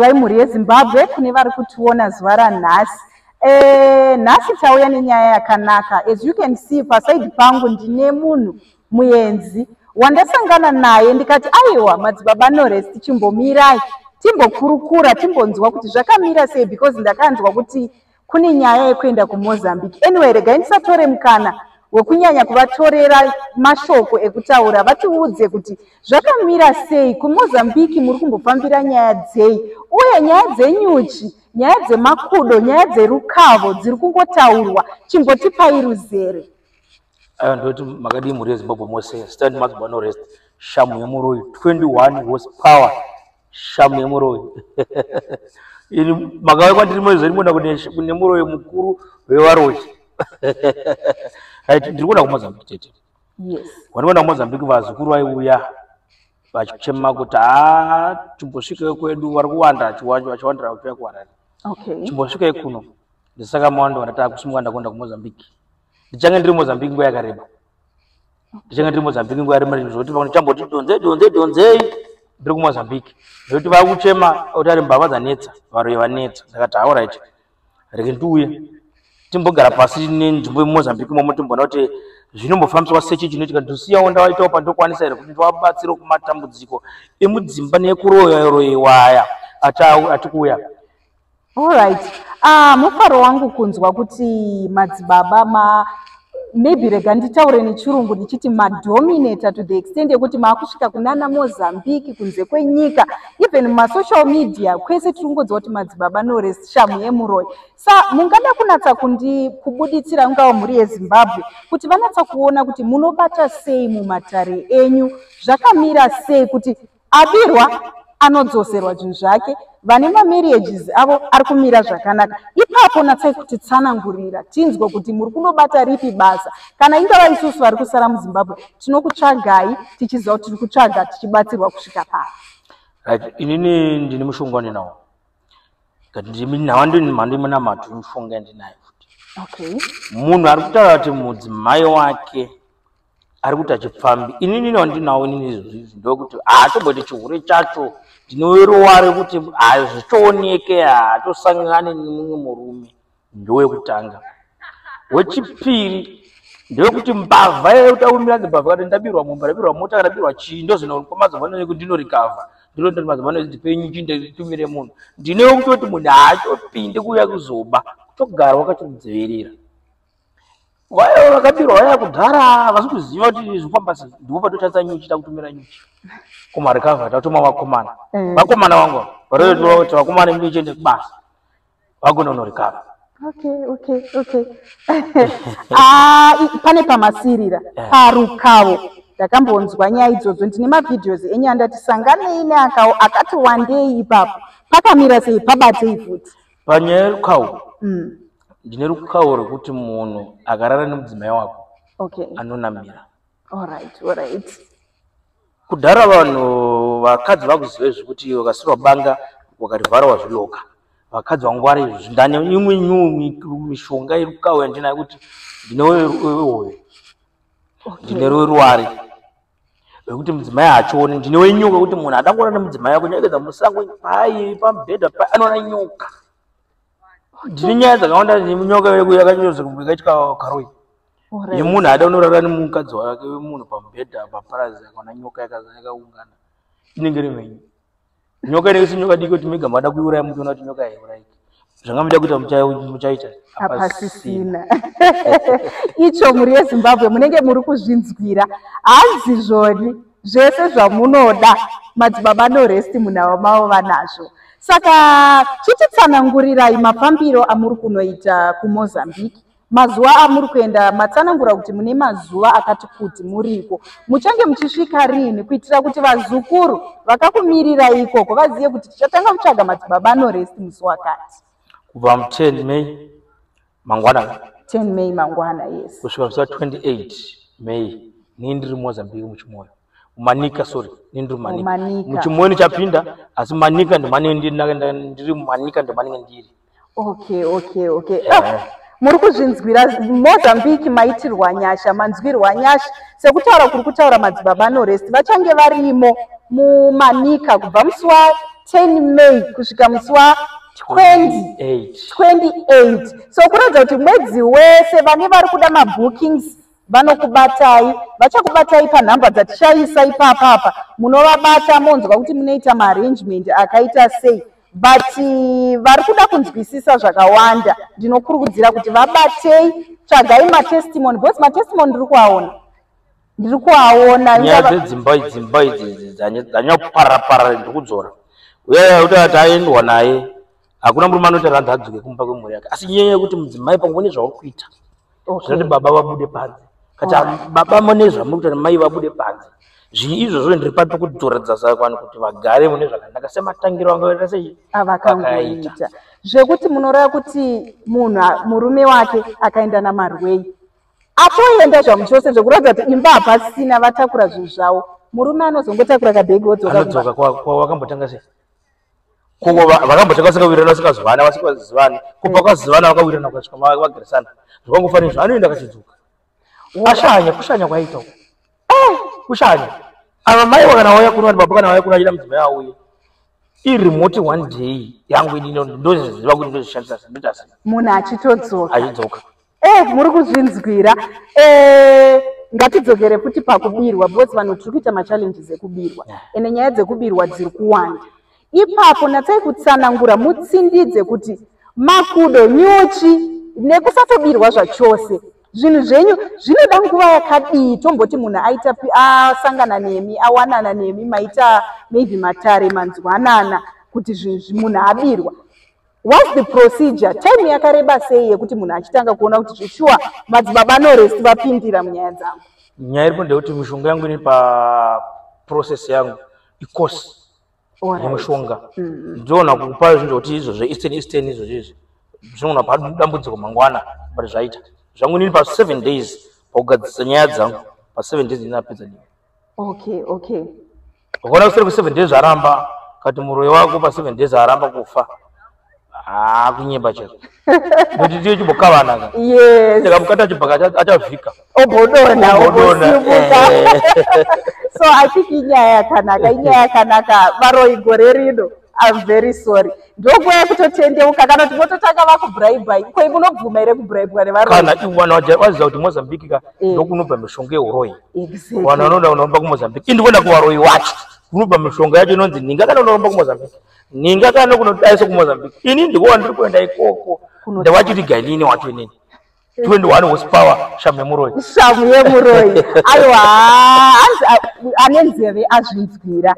Ivai mhuri yezimbabwe kune vari kutiona zuva ranhasi eh, nhasi e, tauya nenyaya yakanaka as you can see pasaidi pangu ndine munhu muenzi wandasangana naye ndikati aiwa madzibaba nores tichimbomirai timbokurukura timbonzwa kuti zvakamira sei because ndakanzwa kuti kune nyaya yekuenda kumozambique anyway regai ndisatore mukana wekunyanya kuvatorera mashoko ekutaura vatiudze kuti zvakamira sei kumozambique muri kumbofambira nyaya dzei uye nyaya dzenyuchi nyaya dzemakudo nyaya dzerukavo dziri kungotaurwa chimbotipai ruzere aya ndoti makadii mhuri yezimbabwe mose stand mazibano rest shamu yemuroyi 21 was power shamu yemuroyi ini makauya kwandiri moizveni mona kune muroyi mukuru wevaroyi right ndiri kuona kumozambique tete wandikuona kumozambique vazukuru vaiuya vachichema kuti ha chimbosvikeyo kwedu vari kuwanda vachiwandira vachiuya kuharare chimbosvikeyo kuno ndisaka mawanda vandataa kusimuka ndakuenda kumozambique ndichange ndiri mozambique nguva yakareba ndichenge ndiri mozambique nguva rimwe zvekuti vamwe chamboti donzei donzei donzei ndiri kumozambique zvekuti vava kuchema kuti ari mbavha dzanetsa varoyi vanetsa ndakati hauraiti rege ndiuye timbogara pasi nenzvimbo yemumozambique momo timboona kuti zvinombofambiswa sechi chinoitika ndosiyawo ndawaitawo pandokwanisa here kuti ndiwabatsire kumatambudziko emudzimba nekuroyairoiwaya atikuuya Alright. Ah, mufaro wangu kunzwa kuti madzibaba ma maybe rega nditaure nechirungu ndichiti madominator to the extent yekuti maakusvika kunana mozambique kunze kwenyika even masocial media kwese tiri kungodziwa kuti madzibaba norest shamu yemuroyi sa mungada kunatsa kundi kubuditsira ungava mhuri yezimbabwe kuti vanatsa kuona kuti munobata sei mumatare enyu zvakamira sei kuti Abirwa anodzoserwa zvinhu zvake vane mamarriages avo ari kumira zvakanaka ipapo natsai kuti tsanangurira tinzwe kuti muri kunobata ripi basa kana ingava isusu vari kusara muzimbabwe tinokutsvagai tichiziva kuti tiri kutsvaga tichibatsirwa kusvika paa right inini ndine mushonga wandinawo nawa ndini mhando imunamato imushonga yandinayo futi okay munhu ari kutaura kuti mudzimai wake ari kuti achipfambi inini wandinawo inini izvozvizvi ndokuti haatomboti chihure chacho ndinowerowa ari kuti hazvichooneke haatosangane nemumwe murume ndowekutanga wechipiri ndewekuti mbavha yekutaumira ndimbavha kati ndabirwa mumba ndabirwa mota ndabirwa chii ndozvinoonekwa mazuva ano nekuti ndinorikavha ndinoita kuti mazuva ano ndipenyu chi nditumire munhu ndinewekutoti munhu haachopinde kuuya kuzoba kutogarwa kachokudzivirira Waya vakabirwa waya kudhara havasi kuziva kuti zvofamba sei ndipo patotadza nyuchi takutumira nyuchi kumarikava tatuma vakomana mm. vakomana vangu varotoa kuti vakomana imbi ichiende kubasa vakunonorikava okay okay okay ah, pane pamasirira eh. parukavo ndakambonzwa nyaya idzodzo ndine mavideos enyu andati sanganei neakawo akati wandei ipapo pakamira sei pabatei futi panyaya yerukawo mm. ndine rukawo rwekuti munhu akarara nemudzimai wako okay. anonamira alright, alright. kudhara vanhu vakadzi vakuziva zvekuti ukasirwa banga wakarivhara wazviloka vakadzi vangwara izvozvi ndane imwe nyu mishonga yerukawo yandinayo kuti ndine wehoyo ndine rweruwari okay. wekuti mudzimai haachioni ndine wenyoka kuti munhu adangoona nemudzimai wako nyekeza musango pai pamubhedha pai anoona nyoka ndine nyaya dzakawanda nyoka yeku yakanyoza kumwe kaitwa karoi yemunhu aada unorara nemukadzi wake wemunhu pamubhedha paparazi akaona nyoka yakaungana inenge iri menyu nyoka inenge si nyoka diki kuti mega mada kuiuraya muchiona kuti nyoka yaiurayika zvanga muda kuita muchaita hapasisina icho mhuri yezimbabwe munenge muri kuzvinzwira hanzi zvoni zvese zvamunoda madzibaba noresti munhavo mavo vanazvo saka chititsanangurirai mafambiro amuri kunoita kumozambique Mazuva amuri kuenda matsanangura kuti mune mazuva akati kuti muriko. Muchange muchisvika rini kuitira kuti vazukuru vakakumirirai ikoko vazive kuti tichatanga kutsvaga madzibaba anorest musi wakati. Kubva mu 10 May mangwana. 10 May mangwana yes. Kusvika musi wa 28 May ni ndiri Mozambique muchimoyo. Manika sorry, ni ndiri Manika. Muchimoyo ni chapinda asi Manika ndi mane ndiri ndiri Manika ndi mane ndiri. okay okay okay eh. oh, muri kuzvinzwira mozambique maitirwa nyasha manzwirwa nyasha sekutaura kuri kutaura madzibaba norest vachange varimo mumanika kubva musi wa 10 may kusvika musi wa 28 so kuratidza kuti mwedzi wese vane vari kuda mabookings vanokubatai vachakubatai panhamba dzatichaisa ipapapa munovabata monzwa kuti munoita maarrangement akaita sei but eh, vari kuda kunzwisisa zvakawanda ndinokurukudzira kuti vabatei tsvagai matestimony because matestimony ndiri kuaona ndiri kuaona nyaya dzedzimba idzimba idzi dzanyakuparapara ndiri kudzora uyaya kuti ati aendwa naye hakuna murume anoita randadzuke kumba kwemhuri yake asi nyaya yekuti mudzimai pamwe une zvauri kuita zvinoti baba vabude panze kati baba mune zvamuri kuti mai vabude panze zvii izvozvo ndiri papi kutoratidza savanhu kuti vagare mune zvakanaka sematangiro angaita sei avakangoita ah, zvekuti munoreva kuti munhu murume wake akaenda namarwei atoenda zvamuchose zvekuratidza kuti imba hapasina vatakura zvinhu zvavo murume anozongotakura kabhegi odzoka kwawakambotanga sei kuko vakambotanga vasingawirirana vasikazivani vasikazivani kubva kwazivana vakawirirana kukasvika vagarisana zvakangofanira izvo anoenda akachidzuka ashanya kushanya kwaita uko eh, kushanya ava mai wakana wauya kuno ati baba kana wauya kuno achida mudzimai auye irimoti one day yangu inino ndoziziva kuti ndozvishandisa ndoita sei munhu achitodzoka achidzoka Eh, muri kuzvinzwira. Eh, ngatidzokere futi pakubirwa because vanhu tiri kuita machallenges ekubirwa ende nyaya dzekubirwa dziri kuwanda ipapo natsai kutsanangura mutsindidze kuti makudo nyuchi nekusatobirwa zvachose zvinhu zvenyu zvinoda nguva yakadii tomboti munhu aita asangana nemi awanana nemi maita maybe matare manzwanana kuti zvinhu munhu abirwa What's the procedure? Time yakareba sei yekuti munhu achitanga kuona kuti zveshuwa madzibaba norest vapindira munyaya dzangu? Nyaya iripo ndeyekuti mishonga yangu iri paprocess yangu ikosi yemushonga mm-hmm. ndiona kupa zvinhu zvekuti izvo zveeastern eastern izvo zvezvi zvinoona padambudziko mangwana but zvaita zvangu ndiri paseven days pakugadzisa nyaya dzangu paseven days ndinapedza dii okay okay ukaona kusere ku seven days aramba kati muroyi wako pa seven days aramba kufa haa kunyemba chero kuti tiye chimbokavanaka yekamukati achibhaka achavhika obodona obodona eh. so i think inyaya yakanaka inyaya yakanaka varoyi gore rino I'm very sorry. Ndokuwa yakutotendeuka kana kuti mototanga vakubraibai ko ivo unobvuma here kubraibwa nevarokana iwana waziva kuti mozambique ka eh. ndokunobva mishonga yeuroyi wana vanoda unoromba kumozambique indiona kuvaroyi wacho kunobva mishonga yacho inonzi ninga kana unoromba kumozambique ninga kana kunodaiso kumozambique ini ndikuwa ndiri kuenda ikoko ndawachiti gainini wacho inini 21 horsepower shamu yemuroyi shamu yemuroyi aiwa ane nzeve azvinzwira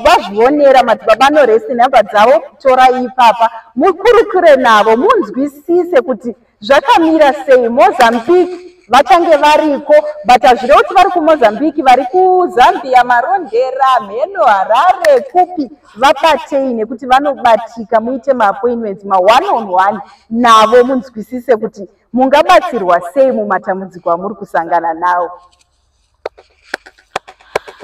vazvionera madzibaba anorese nhamba dzavo torai ipapa mukurukure navo munzwisise kuti zvakamira sei mozambique vachange variko but hazvire kuti vari kumozambique vari kuzambia marondera mheno harare kupi vabatei nekuti vanobatika muite maappointments maone on one navo munzwisise kuti mungabatsirwa sei mumatambudziko amuri kusangana nawo